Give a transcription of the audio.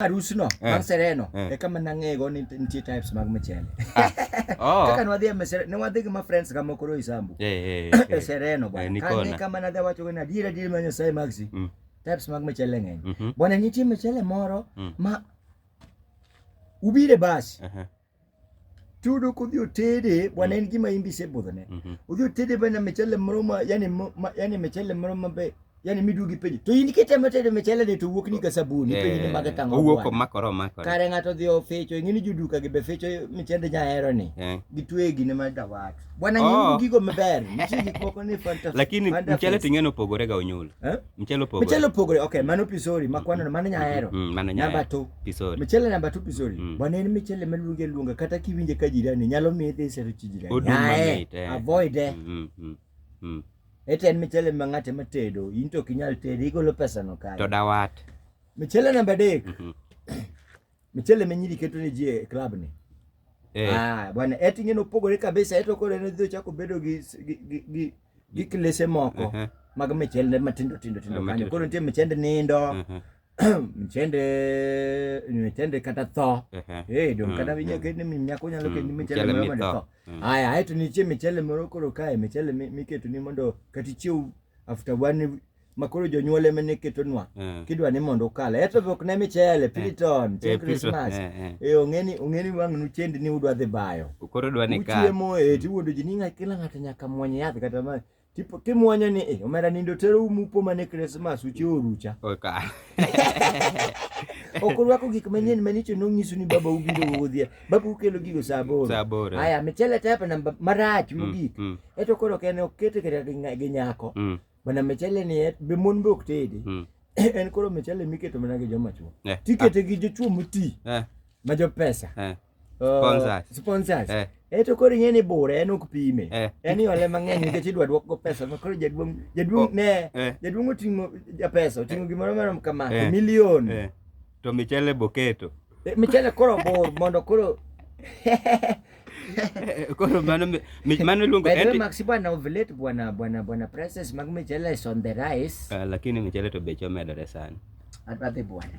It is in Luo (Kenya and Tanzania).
arusno eh. bang' sereno eh. eka mana ng'ego ni nitie types mag mchele ah. oh. kaka ne wadhi e mesere ne wadhi gi ma friends ga mokoro isambu eh, e sereno bwana kane kama nadhi awacho ni adiera adiera ma Nyasaye magsi mm. types mag mchele ng'eny mhm. bwana nitie mchele moro mm. ma ubire basi tudo kudhi otede bwana en gima imbi isebudhone mhm. udhi otede bwana mechele moro ma yani ma, yani mechele moro ma be yani midugi penjo to in kitemo tedo mechele ni to wuok ni ka sabuni eh, penjo ni mage tango owuok omakore omakore kare ng'ato dhi ofecho ing'e ni joduka gi be fecho mechende nyahero ni eh. gitweye gine ma dawat bwana oh. nyingu gigo maber nitie gik moko ni fanta lakini mchele ting'e nopogore ga onyulo eh? Mchele opogore. Mchele opogore. Okay, mano pisori makwano no mano nya hero. Mm, mano nya. Namba 2. Pisori. Mchele namba 2 pisori. Mm. Bwana en mchele maluonge luonga kata kiwinje ka jirani nyalo miye dhi sero chi jirani. Odum mamit. Eh. Avoid eh. Mm, mm, mm. Ete en mchele ma ng'ate ma tedo, in to kinyal tedo, igolo pesa no kae. To dawat. Mchele namba 3. Mm -hmm. Mchele menyiri keto ni ji e club ni. Eh. Ah, bwana eti ngine opogore kabisa eto kore ne dhi chako bedo gi gi gi gi klese moko. Uh -huh. Mag mchele matindo tindo tindo uh, kanyo. Koro nitie mchende nindo. Uh -huh. mchende mchende kata tho. Uh -huh. Eh, don mm, kata vinya mm. kene minyako nyalo kene mm, mchele moro ma tho. Aya, aito nitie mchele moro koro kae mchele miketo ni mondo kati chiu after one ma koro jonyuol ema ne ketonwa eh. kidwa ni mondo ukal eto be ok ne michele eh. piliton chieng eh, krismas e ong'eni ong'eni wang' nu chendi ni udwa dhi bayo koro dwa ni ka uchiemo e tiwuondo ji ni kila ng'ato nyaka mwony yath kata ma tipo kimwonyo ni e omera nindo tero umupo mane krismas uche orucha ok orwako gik manyien manicho nong'iso ni baba ubiro wuodhia baba ukelo gigo saa aboro aya michele tepe na marach mm, mogik mm. eto koro kene okete kata gi nyako mm. mana michele ni e, be mon be ok tedi mm. en koro michele miketo mana gi joma chuo eh, tikete ah. gi jochuo moti eh. ma jo pesa eh. uh, sponsors eto koro ing'e ni bura en ok pime en iole mang'eny nikech idwa duok go pesa ma koro jaduong' jaduong' oh, ne jaduong' oting'o japesa oting'o gimoro marom kama milion To michele boketo. Eh, michele koro bor mondo koro koro mano mano luongo eti Maxi bwana ovulate bwana bwana bwana prices mag michele is on the rise uh, lakini michele to beche omedore sana adhi bwana